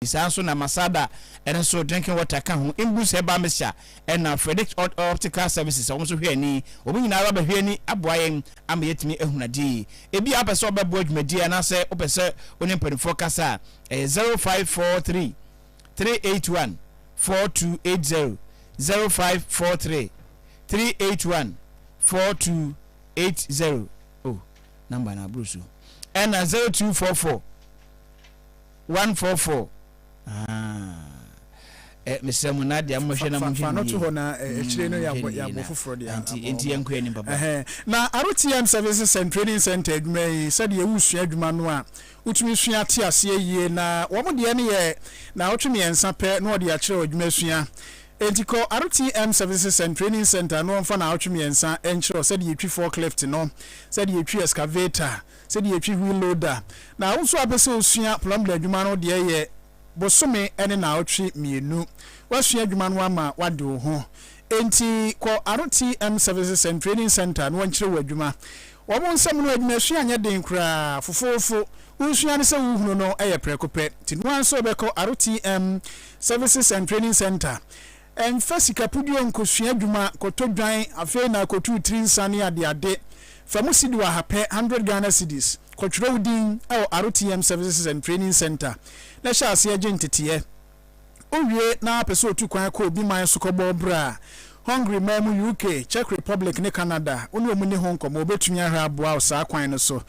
Ɔde saa nso na Masada ɛno nso drinking water ka ho, Imbus herbal mixture ɛna Frederick Odd Optical Services a wɔn nso hwɛ ani. Wɔn nyinaa ara bɛhwɛ ani aboa yɛn ama yɛatumi ahunu adeɛ. Ebi a wopɛ sɛ wobɛboa dwumadie anaasɛ wopɛ sɛ wo ne mpanimfoɔ kasa a, ɛyɛ zero five four three, three eight one, four two eight zero, zero five four three, three eight one, four two eight zero. Oh, number no aboro so. Ɛna zero two four four. One four four aah eh mesrɛ mo na deɛ mo hwɛ na mo hwɛ no yie mm mo hwɛ no yie na anti enti yɛn nkɔ yɛn anim papa. Na RTM Services and Training Centre adwuma yi sɛdeɛ wosua adwuma no a wotumi sua te aseɛ yie na wɔn deɛ no yɛ naawɔtwe mmiɛnsa pɛ na wɔde akyerɛ adwuma sua enti kɔ RTM Services and Training Centre na wɔmfa naawɔtwe mmiɛnsa nkyerɛ wo sɛdeɛ yɛtwi forklift no sɛdeɛ yɛtwi excavator Sɛdeɛ yɛtwi wheel loader. Na wo nso apɛ sɛ wosua plumber adwuma no deɛ yɛ bosome ne naawɔtwe mmienu. Woasua adwuma no ama woade wo ho. Enti kɔ RTM Services and Training Centre na wɔnkyerɛ wo adwuma. Wɔn nsam no adwumasua nyɛ den koraa, fofoofo. Wosua ne sɛ wohunu no yɛ prɛko pɛ. Nti noa nso bɛkɔ RTM Services and Training Centre Ɛmfa sika puduo nkosua adwuma kɔtɔ dwan afei na akɔtuu tiri nsa ne adeade. Fa mu cedi ɔha pɛ, hundred Ghana cedis, kɔtwerɛ wo din wɔ RTM Services and Training Centre na hyɛ aseɛ gye nteteɛ. Wowie na wopɛ sɛ otu kwan kɔ obi man so kɔbɔ bra a, Hungary man mu, UK, Czech Republic ne Canada, wo ne wɔn nni ho nkɔmmɔ, wɔbɛtumi ahwɛ aboa wo saa kwan no so.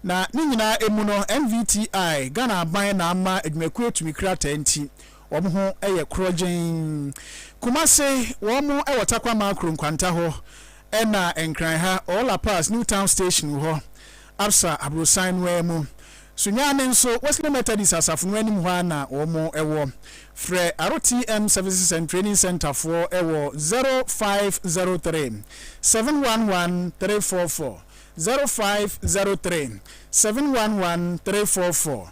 Na ne nyinaa mu no, NVTI, Ghana Aban na ama adwumakuo atumi krataa nti, Wɔn ho yɛ korɔgyenn. Kumase, wɔn wɔ Tarkwa Makro nkwanta hɔ ɛna Nkran ha ɔwɔ La Paz New Town Station hɔ, Absa aborosan no ara mu. Sunyani nso, Wesley Methodist asafo no anim hɔ ara na wɔn wɔ. Frɛ RTM Services and Training Centre foɔ wɔ zero five zero three, seven one one, three four four, zero five zero three, seven one one, three four four.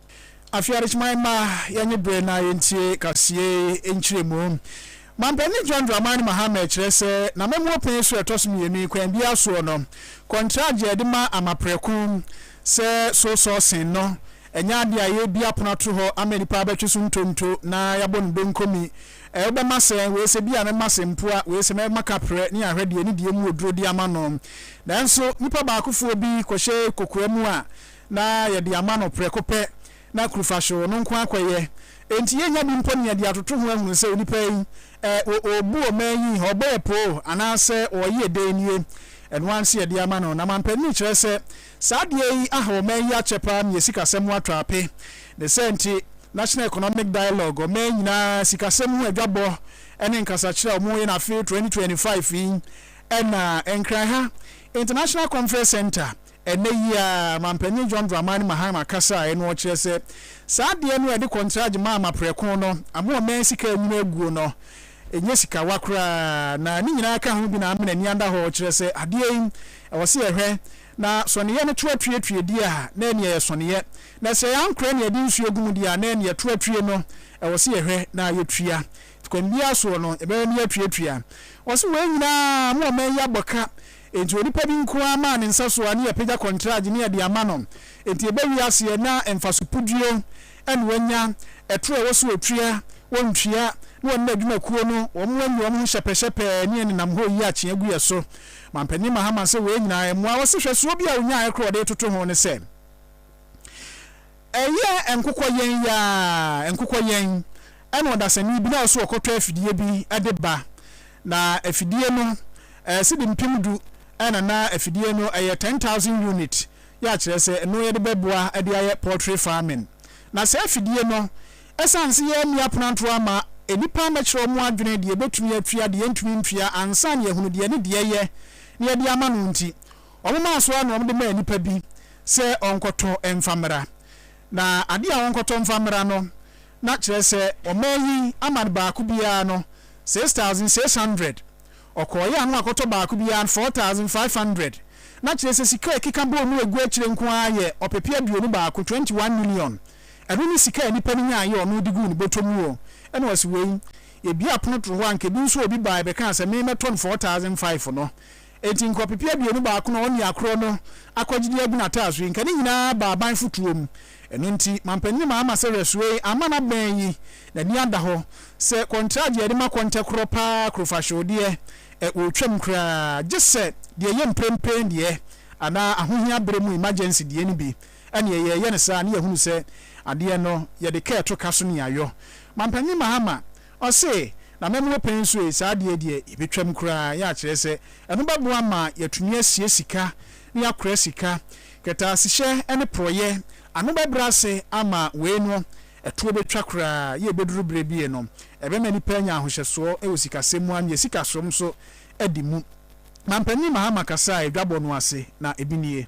Afei adesoma mma yɛnye bere na yentie kasiyei nkyeremu. Mampanyin John Dramani Mahama kyerɛ sɛ n'amammuo pɛn so a ɛtɔ so mmienu yi kwan biara soɔ no, kɔntragye a yɛde ma ama prɛko sɛ so sourcing no nyɛ adeɛ a yɛrebue apono ato hɔ ama nnipa abɛtwe so ntonto na yɛabɔ no donko mi ɛ wobɛma sɛn, wei sɛ bia mɛma sɛ mpoa, wei sɛ mɛma kaprɛ ne yɛahwɛ deɛ ne deɛ mu wɔ duro de ama no. Nanso nnipa baakofoɔ bi kɔhyɛ kokoa mu a Na yɛde ama no prɛko pɛ, na kurufahyew no nko ara kɔyɛ. Enti yennya bi mpo ne yɛde atoto ho ahunu sɛ onipa yi, ɛ, o, obu ɔman yi, ɔbɔɔ poo, anaasɛ ɔyɛɛ dɛn nie. Ɛno ara nti yɛde ama no. Na mampanin kyerɛ sɛ, Saa adeɛ yi aha ɔman yi akyɛ paa ma yɛn sikasɛm ho atɔ ape. Ne saa nti, National Economic Dialogue, ɔman nyinaa sikasɛm ho adwabɔ ne nkasakyerɛ a wɔyɛ no afe 2025 yi, ɛna Nkranha International Conference Centre Ɛnnɛ yi ara, Manpanyin John Dramani Mahama kasae no ɔkyerɛ sɛ saa adeɛ no a yɛde kɔntragye ma ama prɛko no ama ɔman sika anwunu aguo no nyɛ sikawa koraa na ne nyinaa ka ho bi na amena ani anda hɔ ɔkyerɛ sɛ adeɛ yi ɛwɔ sɛ yɛhwɛ na sɔneeɛ no to atue tue deɛ a na ɛneɛ yɛ sɔneeɛ na sɛ ankorɛ na yɛde nsuo gu mu deɛ a na ɛneɛ to atue no ɛwɔ sɛ yɛhwɛ na yɛtua Kwan biara soɔ no, yɛbɛma me atuatua. Ɔse wei nyinaa mo ɔman yi abɔ ka, enti onipa bi nko ara maa ne nsa so a ne yɛpagya kɔntrage ne yɛde ama no. Enti ɛbɛwe aseɛ na mfaso puduo na wanya, ɛtorɔ a ɛwɔ sɛ ɔtua, ɔntua, na ɔne n'adwumakuo no wɔn anya wɔn ho hyɛpɛhyɛpɛɛ ne yɛn nenam hɔ reyi akyea gu yɛn so. Manpanin Mahama se wei nyinaa ɛmmoa. Ɔse hwɛsoɔ bi a ɔnyaeɛ koraa a ɔde retoto ho ne sɛ, Ɛyɛ nkokɔ yɛn yi ara, nkokɔ yɛn, ɛna ɔdasani bi na ɔso ɔkɔtɔ afidie bi de ba. Na afidie no, ɛyɛ cedi mpem du ɛna na afidie no ɛyɛ ten thousand unit, yɛ akyerɛ sɛ ɛno yɛde bɛboa de ayɛ poultry farming. Na saa afidie no, ɛsiane se yɛanni apenantoɔ ama nnipa ammɛkyerɛ wɔn adwene deɛ ɛbɛtumi atua, deɛ ɛntumi ntua, ansa na yɛahunu deɛ ɛne deɛ ɛyɛ na yɛde ama no nti, Wɔmaa so ara na wɔde maa nipa bi sɛ ɔnkɔtɔ mfa mmra. Na ade a wɔnkɔtɔ mfa mmra no, na kyerɛ sɛ, wɔmaa yi ama no baako biara no six thousand six hundred. Ɔkɔeɛ a na wakɔtɔ baako biara no four thousand five hundred. Na kyerɛ sɛ, sika a ɛkeka bɔɔ mu agu akyire nko ara yɛ ɔpepeɛ aduonu baako, twenty one million. Ɛno ne sika a nipa no nyaeɛ a ɔno de guu ne bɔtɔ mu o. Ɛna ɔse, wei, yɛbue apono toro hɔ a, anka ebi nso obi baeɛ bɛkaa sɛ, me mɛtɔ no four thousand five no, Enti nka ɔpepe aduonu baako na ɔne akoro no akɔ gyidi agu n'ataaso yi, nka ne nyinaa ba aban fotuo mu. Ɛno nti, mampanin no maama sɛ Rɛsoee ama no abɛn yi, n'ani ada hɔ, sɛ kɔntragye a yɛde ma kɔntɛ korɔ pa ara korofahyew deɛ, ɛ, wɔretwam koraa, gye sɛ deɛ ɛyɛ mprempren deɛ, anaa ahohia berɛ mu emergency deɛ no bi, ɛnneɛ yɛreyɛ no saa, ne yɛahunu sɛ adeɛ no yɛde kɛɛto ka so ne ayɔ. Mampanin Mahama, Ɔse, Na mɛma wopɛ nso e, saa adeɛ yi deɛ yɛbɛtwam koraa, yɛ a kyerɛ sɛ ɛno bɛboa ma yɛatumi asie sika ne yɛakora sika. Kɛtɛasehyɛ ne porɔeɛ, ano bɛbrɛ ase ama wei no, ɛtoɔ bɛtwa koraa, yɛ a ɛbɛduru berɛ bi e no, ɛbɛma nnipa anya ahohyɛsoɔ wɔ sikasɛm mu anye sikasom nso adi mu. Mampanin Mahama kasaa dwabɔ no ase, na ebi nie.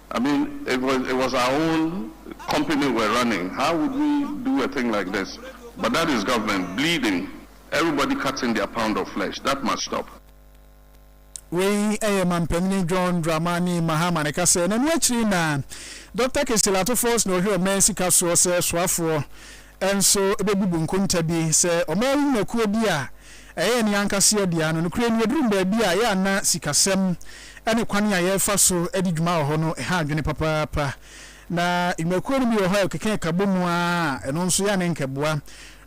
I mean it was it was our own company we're running how would we do a thing like this but that is government bleeding everybody cutting their pound of flesh that must stop. Wei yɛ Mampanyini John Dramani Mahama ne kasɛɛ na ɛno akyiri na Doctor Kessel Atufors na ɔhwɛ ɔman sika soɔ sɛ soafoɔ nso bɛbubu nkonta bi sɛ wɔayi nnwumakuo bi a ɛyɛ yɛn ankaseɛ dea ano. Nokorɛ ni, ɛduruu baabi a ɛyɛ a na sikasɛm ne kwan a yɛrefa so di dwuma wɔ hɔ no ha adwene papaapa. Na nnwumakuo no bi wɔ hɔ a ɛkeka ɛka bɔ mu ara a ɛno nso yɛ a na anka ɛboa.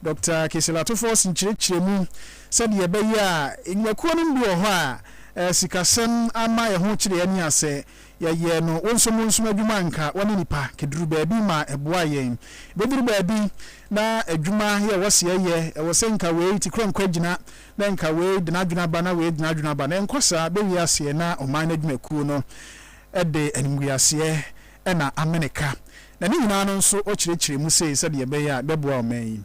Dɔkta Kisilatopoulos nkyerɛkyerɛ mu sɛdeɛ ɛbɛyɛ a nnwumakuo no bi wɔ hɔ a sikasɛm ama ɛho kyere yɛn ase a Yɛyɛɛ no wonsomonsom adwuma a nka wɔne nnipa keduru baabi ma ɛboaa yɛn. Ebeduru baabi na adwuma yɛ ɛwɔ se yɛyɛ, ɛwɔ sɛ nka wei te korankora gyina, na nka wei de n'adwene aba na wei de n'adwene aba. Na ɛnkɔ saa. Bɛ wie aseɛ na ɔman no adwumakuo no de animguaseɛ na amene ka. Na ne nyinaa no nso ɔkyerɛkyerɛ mu sei sɛdeɛ ɛbɛyɛ a bɛboa ɔman yi.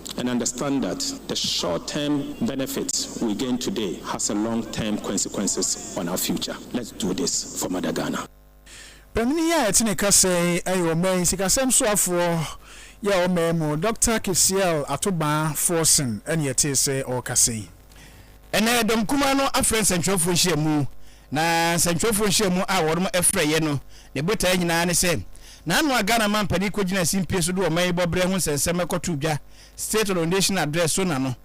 And understand that the short term benefits we gain today has a long term consequences on our future. Let's do this for mother Ghana. Panin yi a yɛte ne kasa yi yɛ ɔman yi sikasɛm soafoɔ yɛ ɔman mu Doctor Kisiel Atobaa Forson ɛne yɛtee sɛ ɔrekasa yi. Ɛnnɛ, dɔm kumaa no afrɛ nsɛnkyerɛwfo nhyiamu, na nsɛnkyerɛwfo nhyiamu a wɔafrɛ yɛ no, ne botae nyinaa ne sɛ, n'ano a Ghana manpanin kogyina simpie so de ɔman yi bɔberɛ ho nsɛnsɛm ɛkɔtoo dwa, State on Ordination Address, so na no,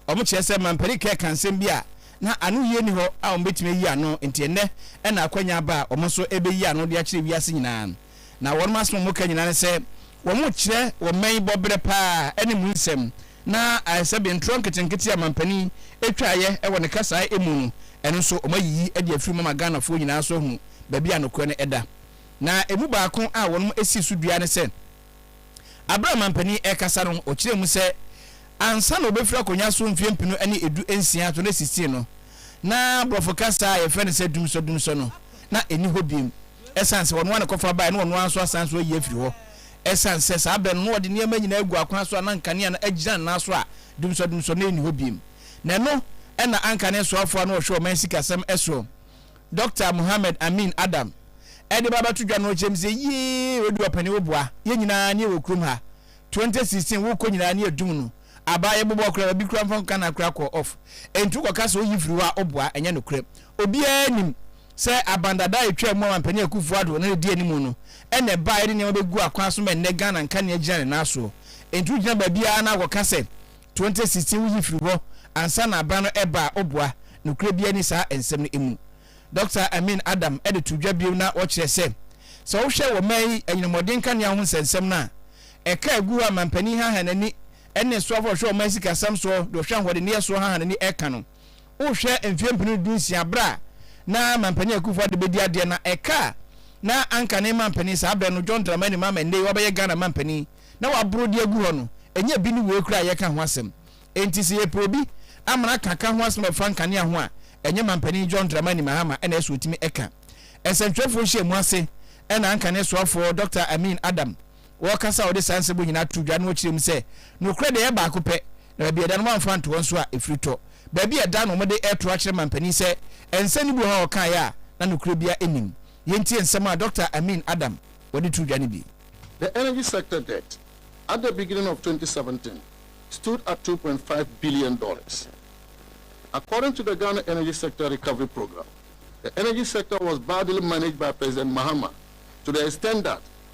wɔkyerɛ sɛ manpanin Kerr ka nsɛm bi a na ano yie nni hɔ a wɔbɛtumi ayi ano, nti ɛnnɛ na akwanya aba a wɔn nso ɛrebɛyi ano de akyerɛ wiase nyinaa. Na wɔnom asem a wɔka nyinaa ne sɛ wɔrekyerɛ wɔn mma yi bɔberɛ paa ɛne mu nsɛm, na ayɛ sɛ bee ntorɔ nketenkete a mampanin ɛtwaeɛ wɔ ne kasaa ɛmu no, ɛno nso wɔn ayiyi de afiri mu ama Ghanafoɔ nyinaa nso ahunu baabi a nokorɛ no ɛda. Na ɛmu baako a wɔnom ɛsii so dua ne sɛ, aberɛ a mampanin ɛrekasa no ɔkyerɛɛ mu sɛ ansa na ɔbɛfiri akonnwa so mfeɛ mpenu ne ɛdu nsia to ne sixteen no na brɔfo kasaa a yɛfrɛ no sɛ dumsɔdumsɔ no na ɛnni hɔ biom. Ɛsiane sɛ ɔno ara na ɛkɔfa baeɛ na ɔno ara nso asan nso ayi afiri hɔ, ɛsiane sɛ saa berɛ no na ɔde nneɛma nyinaa agu akwan so a na nkanea no agyina ne nan so a dumsɔdumsɔ no nni hɔ bio. Na ɛno na anka ne soafoɔ a na ɔhwɛ ɔman sikasɛm soɔ, Dɔkta Mohammed Amin Adam, de ba abɛto dwa na ɔrekyerɛ me sɛ, Yee, Oduwa Panin wo boa yɛn nyinaa ne yɛwɔ kurom ha, 2016 worekɔ nyinaa ne yɛdum no abaa, yɛbobɔ koraa, baabi koraa mfa nka no akora kɔɔ off, enti wokɔka sɛ woyi firi hɔ a woboa, ɛnyɛ nokorɛ, obiara nim. Sɛ aban dada a etwaa mu a Mampanyin Akuffo Addo na edi anim no na ɛbae de nneɛma begu akwan so ma ɛnnɛ Ghana nka nea egyina ne nan soɔ. Enti wogyina baabi ara na akɔka sɛ 2016 woyi firi hɔ ansa na aban no reba a woboa? Nokorɛ biara nni saa nsɛm no mu. Dɔkta Amin Adam de too dwa bio na ɔkyerɛ sɛ, sɛ wohwɛ wɔ mmaa yi anyina mmɔden nkanea ho nsɛnsɛm no a ɛka a ɛgu hɔ a Mampanyin haha n'ani ne soafo a ɔhwɛ ɔman sikasɛm soɔ de ɔhwɛ ahoɔdenneyɛ soɔ haha n'ani reka no, Wohwɛ mfeɛ mpenu du nsia berɛ a na Mampanin Akuffo Addo bɛdi adeɛ na ɛka a na anka ne Mampanin saa berɛ no John Dramani Mahama nnɛ yi wabɛyɛ Ghana Mampanin na waboro de agu hɔ no ɛnyɛ bi ne wei koraa a yɛreka ho asɛm. Enti sɛ yɛpɛ obi ama no aka ka ho asɛm a ɛfa nkanea ho a ɛnyɛ Mampanin John Dramani Mahama ɛna ɛsɛ ɔtumi ɛka. Nsɛntwerɛfoɔ nhyiamu ase ɛna anka ne soafoɔ Dɔkta Amin Adam Wɔkasa a wɔde saa nsɛm yi nyinaa too dwa no kyerɛ mu sɛ, nokorɛ deɛ ɛyɛ baako pɛ, na baabi a ɛda no wɔamfa anto hɔ nso a ɛfiri tɔ. Baabi a ɛda no wɔde reto akyerɛ mampanin sɛ nsɛm no bi wɔ hɔ a ɔkaeɛ a na nokorɛ biara nnim. Yɛntie nsɛm a Dɔkta Amin Adam wɔ de too dwa no bi. The energy sector debt at the beginning of twenty seventeen stood at two point five billion dollars. According to the Ghana Energy Sector Recovery Programme, the energy sector was badly managed by President Mahama to the extent that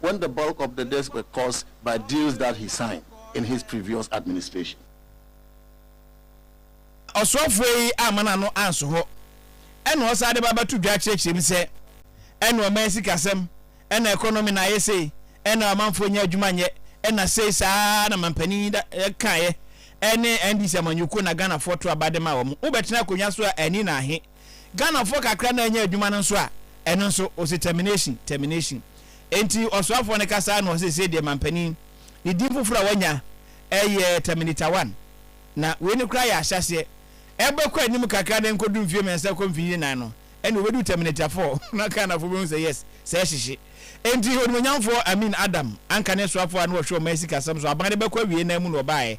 When the bulk of the deaths were caused by deals that he signed in his previous administration. Ɔsoafoɔ yi amma n'ano anso hɔ, ɛna ɔsan de ba bɛto dwa kyerɛkyerɛ mu sɛ, ɛna ɔman sikasɛm, ɛna economy na ayɛ sei, ɛna ɔmanfoɔ nnya adwuma nyɛ, ɛna sei, saa ara na mampanin yi kaeɛ, ɛne NDC amanyɔkuo na Ghanafoɔ to aba de maa wɔn. Wobɛtena akonnwa so a, ani na ahe? Ghanafoɔ kakra no a anya adwuma no nso a, ɛno nso, ɔse termination, termination. Enti ɔsoafoɔ no kasa ara na ɔse seesei deɛ manpanin ne din foforɔ a wanya yɛ Terminator One. Na wei no koraa yɛ ahyɛaseɛ. Ɛbɛkɔ anim kakra na ɛnkɔdu mfeɛ mmiɛnsa kɔ mfeɛ nnan no, ɛnna wɔbɛdu Terminator Four na Ghanafoɔ bɛhu sɛ yes, sɛɛ hyehye. Enti Onimuonyamfoɔ Amin Adam anka ne soafoɔ a na wɔhwɛ wɔn mmaa sikasɛm so, aban no bɛkɔ awiei no ara mu na wɔbaeɛ,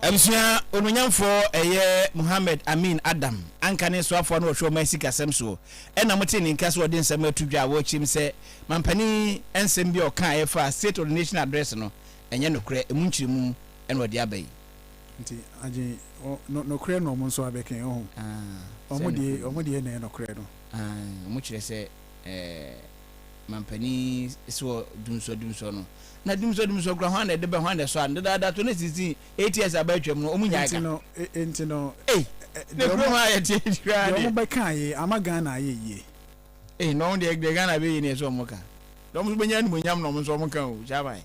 Abusua onuonyamfoɔ ɛyɛ Mohammed Amin Adam anka ne nsoafoɔ a na wɔhwɛ wɔn asikasɛm soɔ ɛna motee ne nka sɛ ɔde nsɛm ato dwa a wɔrekyem sɛ mampanin nsɛm bi a ɔka a ɛfa State of the Nation Address no ɛnyɛ nokorɛ, ɛmu nkyerɛmu ɛna ɔde aba yi. Nti agye no nokorɛ na wɔn nso abɛka yi, ɔho? Wɔn deɛ, wɔn deɛ na ɛyɛ nokorɛ no. Aane, wɔn kyerɛ sɛ ɛɛ. mampanin si hɔ dumsɔdumsɔ no. Na dumsɔdumsɔ kura hwan na ɛde bɛ hwan na ɛsɔ ano dedaada to ne sisi eight years aba atwam no ɔmo nyaa ka. Nti no ei na ekuro hɔ ayɛ teɛ koraa deɛ. Deɛ ɔmo bɛ kaa yɛ ama Ghana ayɛ yie. Ei na ɔmo deɛ deɛ Ghana bɛ yɛ ni ɛsɛ ɔmo ka na ɔmo nso bɛ nya animonyam na ɔmo nso ɔmo ka o Shaban.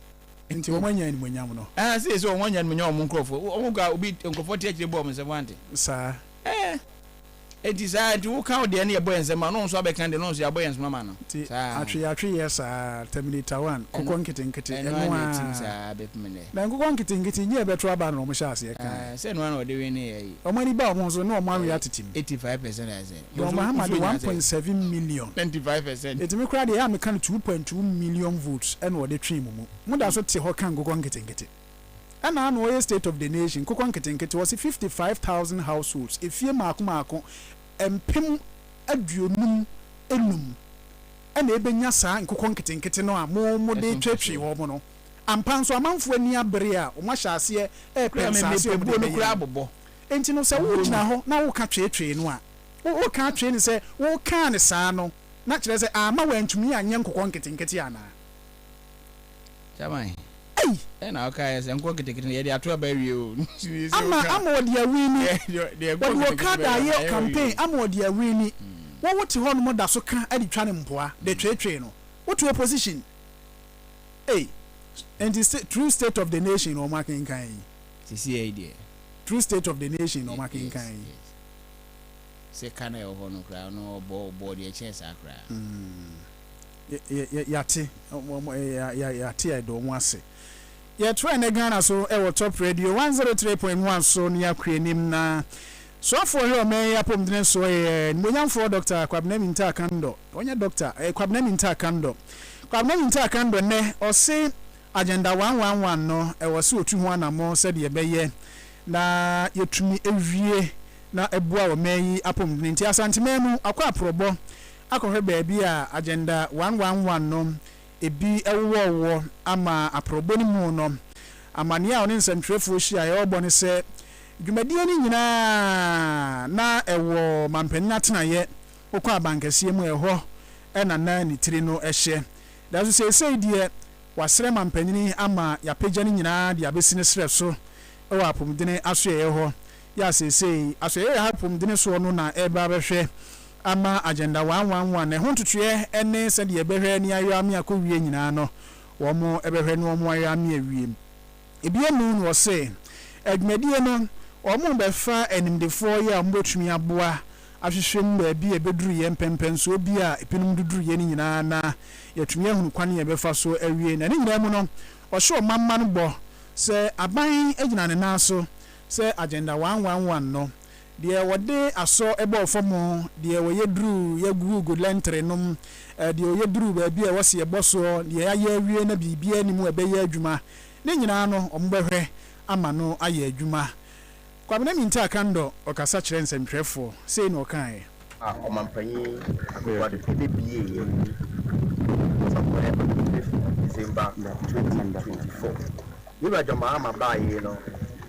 Nti ɔmo anya animonyam no. Ɛɛ sɛ sɛ ɔmo anya animonyam ɔmo nkorɔfoɔ ɔmo ka obi nkorɔfoɔ te akyire bɔ ɔmo nsɛm wante. Saa. Ɛɛ. Enti saa nti woka wo deɛ ne yɛbɔ yɛn nsam ma no nso abɛka deɛ no nso yɛabɔ yɛn nsam ama no nti saa atwe atwe yɛ saa terminator one kɔkɔ nketenkete ɛno ara ɛno na ɛtim aa saa bɛpem nnɛ na nkokɔ nketenkete nyɛ ɛbɛto aba no na wɔn hyɛ aseɛ kan aa sɛ ɛno ara na wɔde wene yɛ yi wɔn ani ba wɔn ho so na wɔn awe ɛyɛ atetem 85 percent ayɛ sɛ John nso Mahama nso de nya one sɛ point seven million 95 percent ɛtumi koraa deɛ ɛyɛ a meka no two point two million votes ɛna wɔde twee mo mu mo da so te hɔ ka nkokɔ nketenkete. ɛna ano ɔyɛ state of the nation nkokɔ nketenkete ɔse fifty five thousand households efie mmaako mmaako mpem aduonum enum ɛna ebenya saa nkokɔ nketenkete no a mo mo de tweetwee wɔn no ampa nso amanfoɔ ani abere a wɔn ahyɛ aseɛ ɛɛpɛ nsaase a wɔn de bɛyɛ no enti no sɛ wo gyina hɔ na wo ka tweetwee no a wo wo ka twee no sɛ wo kaa no saa no na kyerɛ sɛ ama wɔn antumi anyɛ nkokɔ nketenkete anaa. Chairman. Ei. Ẹ na ọka yẹ sẹ nkọ ketekete no yẹ de ato aba awie o. Ama ama ọde awini. Ọde okada ayẹ campaign ama ọde awini. Wọ wo te hɔ nom da so ka de twa ne mpoa de tweetwee no. Wo te opposition. Ei. Nti se true state of the nation na ọmọ akenkan yi. Sesei deɛ. True state of the nation na ọmọ akenkan yi. Yes yes. Sɛ ka na ɛwɔ hɔ no koraa no ɔbɔ ɔbɔ deɛ ɛkyɛn saa koraa. Yɛate yɛate yɛdɔ mo ase. Yɛtoa nnɛ Ghana so wɔ Top Radio one zero three point one so ne akɔ anim na Soafoɔ hwɛ ɔman yi apɔmuden soɔ yɛ Animuonyamfoɔ Doctor Kwabena Mintah Kandɔ ɔnyɛ Doctor ɛyɛ Kwabena Mintah Kandɔ Kwabena Mintah Kandɔ nnɛ ɔse Agenda one one one no ɛwɔ se ɔtu ho anamɔ sɛdeɛ ɛbɛyɛ na yɛtumi awie na ɛboa ɔman yi apɔmuden nti Asanteman mu akɔ aporɔbɔ akɔhwɛ baabi a Agenda One One One no bi wowɔ wɔ ama aporɔbɔ no mu no, amanneɛ a ɔne nsɛntwerɛfoɔ hyiaeɛ ɔrebɔ ne sɛ, dwumadie no nyinaa na ɛwɔ manpanin atenaeɛ, wokɔ abankɛseɛ mu a ɛhɔ na na ne tiri no hyɛ. Nanso seesei deɛ wɔasrɛ manpanin ama yɛapagya ne nyinaa de abɛsi ne serɛ so wɔ apomdene asoɛeɛ hɔ, yɛ a seesei asoɛeɛ a ɛha apomdene soɔ no na ɛreba abɛhwɛ. ama agenda wanwanwa na ɛho ntotoeɛ ne sɛdeɛ yɛbɛhwɛ ne ayɔ ame akɔwie nyinaa no wɔbɛhwɛ ne wɔn ayɔ ame awie. Bio no na wɔse adwumadie no wɔbɛfa animdefoɔ yi a wɔbɛtumi aboa ahwehwɛ mu baabi a ɛbɛduruiɛ mpɛnpɛnsoɔ bi a binom de duruiɛ no nyinaa na yɛatumi ahunu kwan a yɛbɛfa so awie na ne nyinaa mu no wɔhyɛ ɔmanman bɔ sɛ aban gyina ne nan so sɛ agenda wanwanwan no Deɛ wɔde asɔ bɔɔ fam, deɛ wɔyɛ duru yɛ gugugu lɛntere nom, deɛ wɔyɛ duru baabi a ɛwɔ sɛ yɛbɔ soɔ, deɛ yɛayɛ awie na biribiara nni mu a ɛbɛyɛ adwuma, ne nyinaa no, wɔbɛhwɛ ama no ayɛ adwuma. Kwabena Mintah Kandor ɔkasa kyerɛ nsɛntwerɛfoɔ, sei na ɔkaaɛ. a Ɔmanpanyin Akufo Addo de buee ayi Asafo no ano before December twenty twenty four. Me wura John Mahama baa yei no,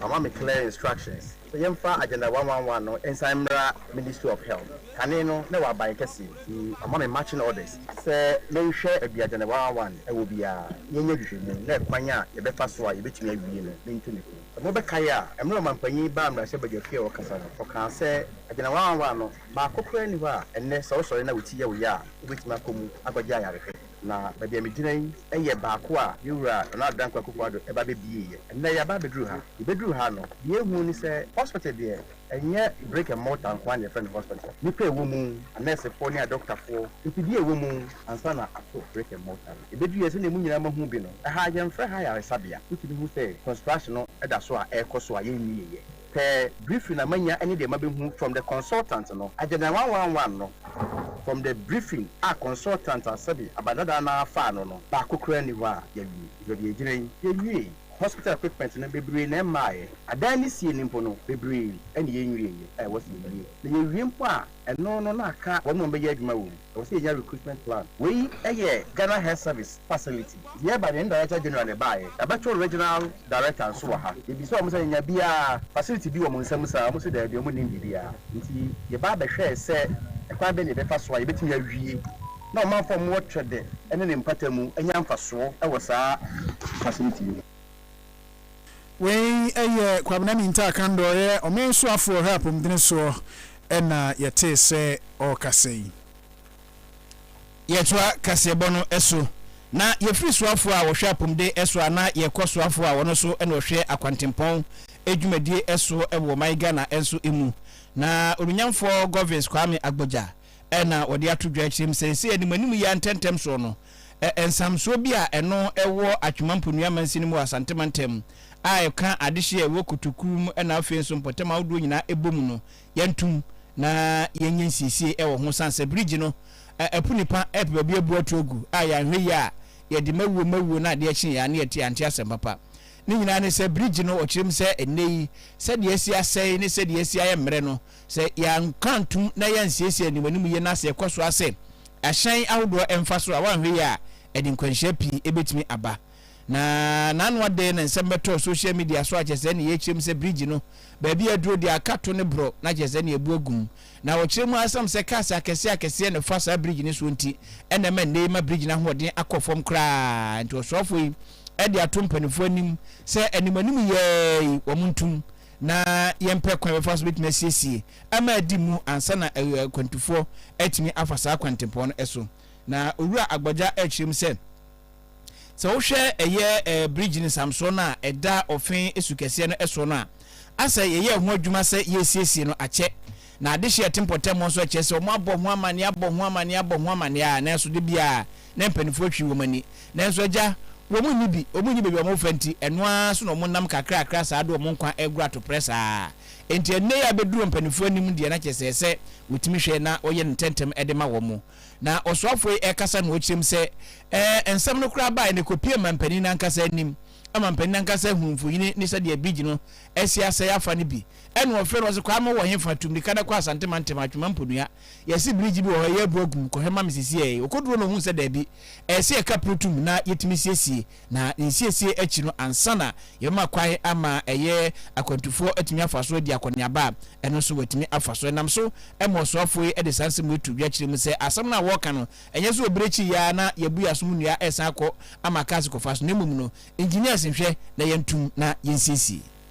wama me clear instructions Yɛmfa Agenda one one one no nsan mmra Ministry of Health. Kane no na ɛwɔ aban kɛseɛ nti wɔama me marching orders sɛ menhwɛ baabi a Agenda one one one ɛwɔ biara, yɛnyɛ nhwehwɛmu na ɛkwan a yɛbɛfa so a yɛbɛtumi awie no mentu no fo. Sɛ mobɛkae a, mmerɛ ɔmampanyin baa mmarahyɛ badwa fie a ɔkasa no, ɔkaa sɛ Agenda one one one no baako koraa nni hɔ a ɛnnɛ sɛ wosɔre na wo ti yɛ wo ya a wobɛtumi akɔ mu akɔgye ayarehwɛ. Na baabi a megyina yi yɛ baako a me wura Nana Addo Dankwa Akufo Addo ba bɛbieeɛ. Ɛnnɛ yɛaba abɛduru ha. Yɛbɛduru ha no, deɛ yɛhuu ne sɛ hospital deɛ ɛnyɛ brick and mortar nko ara na yɛfrɛ no hospital. Nnipa a ɛwɔ mu, anɛɛsefoɔ ne adɔkotafoɔ, mfidie a ɛwɔ mu ansa na ato brick and mortar no. Yɛbɛduruiɛ sɛdeɛ mo nyinaa moahu bi no, ɛha yɛmfrɛ ha ayaresabea. Wotumi hu sɛ construction no da so a ɛrekɔ so a yɛnwieeɛ. Pɛ briefing na manya ne deɛ mabehu from the consultant no, agenda one one one no from the briefing a consultant a sɛbi abadadaa no ara faa no no, baako koraa nni hɔ a yɛawie. Yɛde agyina yi, yɛnwiee. Hospital equipment no, bebree na ɛmmaeɛ. Adan no sie no mpo no, bebree na yɛnwieeɛ a ɛwɔ sɛ yɛwie. Na yɛwie mpo a, Ɛno no na aka wɔn a wɔbɛyɛ adwuma wɔ mu. Ɛwɔ sɛ yɛnya recruitment plan. Wei yɛ Ghana Health Service facility. Nti yɛreba deɛ ne Director General na ɛbaeɛ. Yɛabɛto Regional Director nso wɔ ha. Yɛbisaa wɔn sɛ yɛnya bi a facility bi wɔ mo nsam saa a, wɔse daabi, wɔn nnim biribiara. Nti yɛba abɛhwɛɛ sɛ ɛkwan bɛn na yɛbɛfa so a yɛbɛtumi awie na ɔmanfoɔ a wɔwɔ Twede ne ne mpatamu anya mfasoɔ wɔ saa facility yi mu. Wei yɛ Kwabena Mintah Kandor, ɔyɛ ɔman suafoɔ ɔhwɛ apɔmudene soɔ na yɛtee sɛ ɔrekasa yi. Yɛtoa kaseɛbɔ no so na yɛfiri suafoɔ a wɔhwɛ apɔmuden so a na yɛkɔ suafoɔ a wɔno nso na wɔhwɛ akwantempɔn dwumadie so wɔ ɔman Ghana nso mu na Onunyamfoɔ Govins Kwame Agbodza Ɛna wɔde ato dwa akyire mu sɛ, sɛ animanim yi ara ntɛmntɛm soɔ no, ɛ, nsamsoɔ bi a ɛno wɔ Atwemampo Nua Mansini mu wɔ Asante Mantam a ɛka adehyeɛ a ɛwɔ Kotokuo mu ɛna afei nso mpɔtam ahodoɔ nyinaa ɛbɔ mu no, yɛntom na yɛnyɛ nsiesie ɛwɔ ho sane sɛ bridge no, ɛ, apu nipa ɛpɛ baabi abu ato agu a yɛanhwɛ yie a yɛde mawuo mawuo na adeɛ kyeeɛ a na yɛte yɛante asɛm papa. Ne nyinaa ne sɛ bridge no ɔkyerɛ mu sɛ ɛnnɛ yi sɛdeɛ asi asɛe ne sɛdeɛ asi ayɛ mmerɛ no Sɛ yɛanka antom na yɛansiesie animanim yie na sɛ yɛkɔ so ara sɛ ahyɛn ahodoɔ mfa so a, woanhwɛ yie a, ɛde nkwanhyia pii bɛtumi aba. Na n'ano adɛn na nsɛm bɛtɔɔ social media so a kyerɛ sɛ nea ɛkyerɛ mu sɛ bridge no baabi a aduro deɛ aka to ne borɔ na kyerɛ sɛ nea ɛbu agu mu. Na ɔkyerɛ mu ara ɛsiam sɛ cars akɛseɛ akɛseɛ na ɛfa saa bridge no soɔ nti ɛna ɛma nnɛ yi ma bridge no ahoɔden akɔ fam koraa nti ɔsoafoɔ yi de ato mpanimfoɔ anim sɛ animanim yɛɛi wɔn ntom na yɛmpɛ kwan a yɛbɛfa so bɛtumi asiesie ama adi mu ansa na akwantufoɔ atumi afa saa kwantempɔn no so. Na Owura Agbagya rekyerɛ mu sɛ, sɛ wohwɛ ɛyɛ bridge no nsamsoɔ no a ɛda Ɔfe su kɛseɛ no soɔ no a, asɛ yɛyɛɛ ho adwuma sɛ yɛresiesie no akyɛ. Na adehyeɛ a ɛte mpɔtam hɔ nso kyerɛ sɛ wɔabɔ ho amanneɛ, abɔ ho amanneɛ, abɔ ho amanneɛ ara nanso da biara na mpaninfoɔ twi wɔn ani. Nanso agya, wɔn nni bi, wɔn nni baabi a wɔfa nti, ɛno ara so na wɔn nam kakrakra saa de wɔn nkwa regoro atoprɛ saa. Enti ɛnnɛ yi a bɛduru wɔn mpaninfoɔ anim deɛ na kyerɛ sɛ ɛsɛ wɔtumi hwɛ na wɔyɛ no ntɛmntɛm de ma wɔn. Na ɔsoafoɔ yi rekasa na ɔrekyerɛm sɛ, Ɛɛ, nsɛm no koraa baeɛ no, ɛkɔpuee mampanin no ankasa anim. Mampanin no ankasa ahunu mfonini ne sɛdeɛ Bigye no asi asɛe afa no bi. Ɛnna ɔfrɛɛ no, ɔse, Kwaa me wɔ hefa? Tu mmirika na kɔ Asantema ntɛm, Atwema Mponua. Yɛse bridge bi wɔ hɔ ɛyɛ abura gu mu kɔhwɛ ma me sesiei. Ɔkɔduro no ɔhuu sɛ daabi, ɛɛsɛ yɛka pru tum na yɛtumi siesie. Na ne nsiesie akyi no ansa na yɛbɛma kwan ama ɛyɛ akwantufoɔ atumi afa so adi akɔneaba a, ɛno nso watumi afa so. Ɛnam so ma ɔsoafoɔ yi de saa nsɛm wei to dwa kyerɛ mu sɛ asɛm no a wɔɔka no ɛnyɛ sɛ ɔbere akyi yi ara na yɛabu yɛn asom nnua ɛɛsan akɔ ama cars kɔfa so na mmom no engineers nhwɛ na yɛntum na yɛnsiesie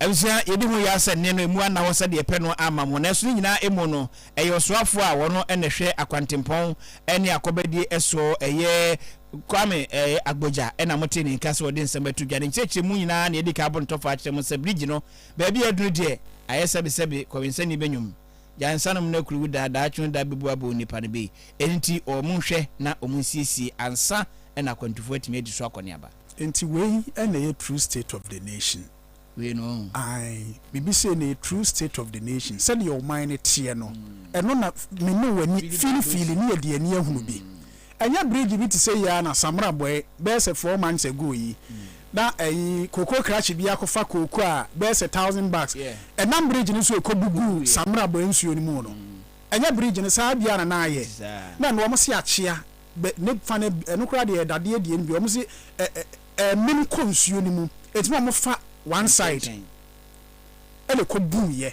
Abusua, yedi ho yaw sɛ nne no emu anna hɔ sɛdeɛ yɛpɛ no amma mo, nanso ne nyinaa emu no, ɛyɛ ɔsoafoɔ a ɔno na ɛhwɛ akwantempɔn ne akɔbadie soɔ, ɛyɛ Kwame Agbodza na motee ne nka sɛ ɔde nsɛm ato dwa. Ne nkyerɛkyerɛmu nyinaa na yɛadi kan abɔ no tɔfa akyerɛ mo sɛ bridge no baabi a aduru deɛ, ayɛ sɛbe sɛbe kɔwensani bɛnwom gyae nsa nom no akuru wo da, daakye no da bɛbu abɔ onipa no bei, ɛno nti ɔɔ mo nhwɛ na ɔmo nsiesie ansa na akwantufoɔ atumi adi so akɔneaba. Enti wei na ɛyɛ true state of the nation. wei no wahu. Ae, biribi sei ne true state of the nation, sɛdeɛ ɔman no teɛ no, ɛno na me ne w'ani fili fili ne yɛde ani ahunu bi. Ɛnyɛ bridge bi te sɛ yi ara na Samora bɔe bɛyɛ sɛ four months ago yi, na ɛyi cocoa crush bi akɔfa kooko a bɛyɛ sɛ thousand bags ɛnam bridge no so ɛkɔbugu Samora bɔe nsuo no mu no. Ɛnyɛ bridge no saa biara na na ayɛ, na ɛno wɔn se akyea bɛ ne fa no, ɛno koraa deɛ ɛyɛ dadeɛ deɛ no bi, wɔn se ɛ ɛ. Ɛmem kɔ nsuo no mu. Ɛtumi a wɔfa one side ɛna ɛkɔ buu yɛ.